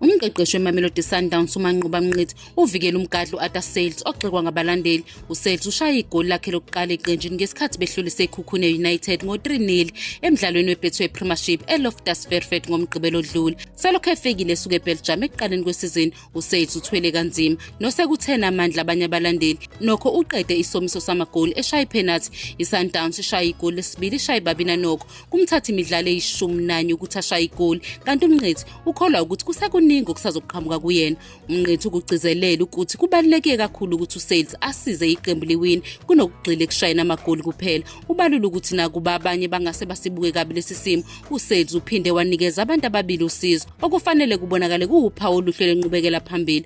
Umqeqeshi weMamelodi Sundowns uManqoba Mnqithi uvikele umgadli u-Ata Sales ogxekwa ngabalandeli. USales ushaye igoli lakhe lokuqala eqenjini ngesikhathi behlulise iKhukhune United ngo-3-0 emdlalweni weBetway Premiership eLoftus Fairfield ngoMgqibelo odlule. Selokhu efikile esuke eBelgium ekuqaleni kwesizini, uSales uthwele kanzima nosekuthena amandla abanye abalandeli. Nokho uqede isomiso samagoli eshaya iphenathi. ISundowns ishaye igoli lesibili ishaye babina nokho. Kumthatha imidlalo eyishumi nanye ukuthi ashaye igoli kanti uMnqithi ukholwa ukuthi kusekuningi okusazoqhamuka kuyena umnqethu ukugcizelela ukuthi kubaluleke kakhulu ukuthi usales asize iqembu liwini kunokugxila ekushayeni amagoli kuphela ubalula ukuthi nakuba abanye bangase basibuke kabi lesi simo usales uphinde wanikeza abantu ababili usizo okufanele kubonakale kuwuphawu oluhle lwenqubekela phambili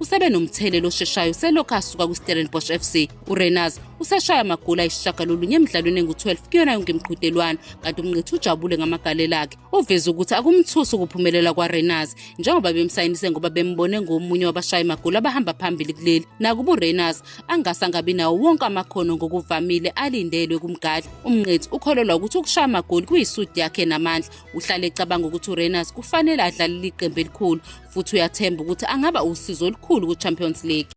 usebe nomthelela osheshayo selokhu asuka kwistellenbosch f c urenars useshaya amagoli ayisishagalolunye emidlalweni engu-12 kuyona yonke imiqhudelwano kanti umnqithi ujabule ngamagalela akhe uveze ukuthi akumthusi ukuphumelela kwarenars njengoba bemsayinise ngoba bembone ngomunye wabashayi magoli abahamba phambili kuleli nakuba urenars angase angabi nawo wonke amakhono ngokuvamile alindelwe kumgadli umnqithi ukholelwa ukuthi ukushaya amagoli kuyisudi yakhe namandla uhlale ecabanga ukuthi urenus kufanele adlalele iqembu elikhulu futhi uyathemba ukuthi angaba usizo olukhulu ku-champions league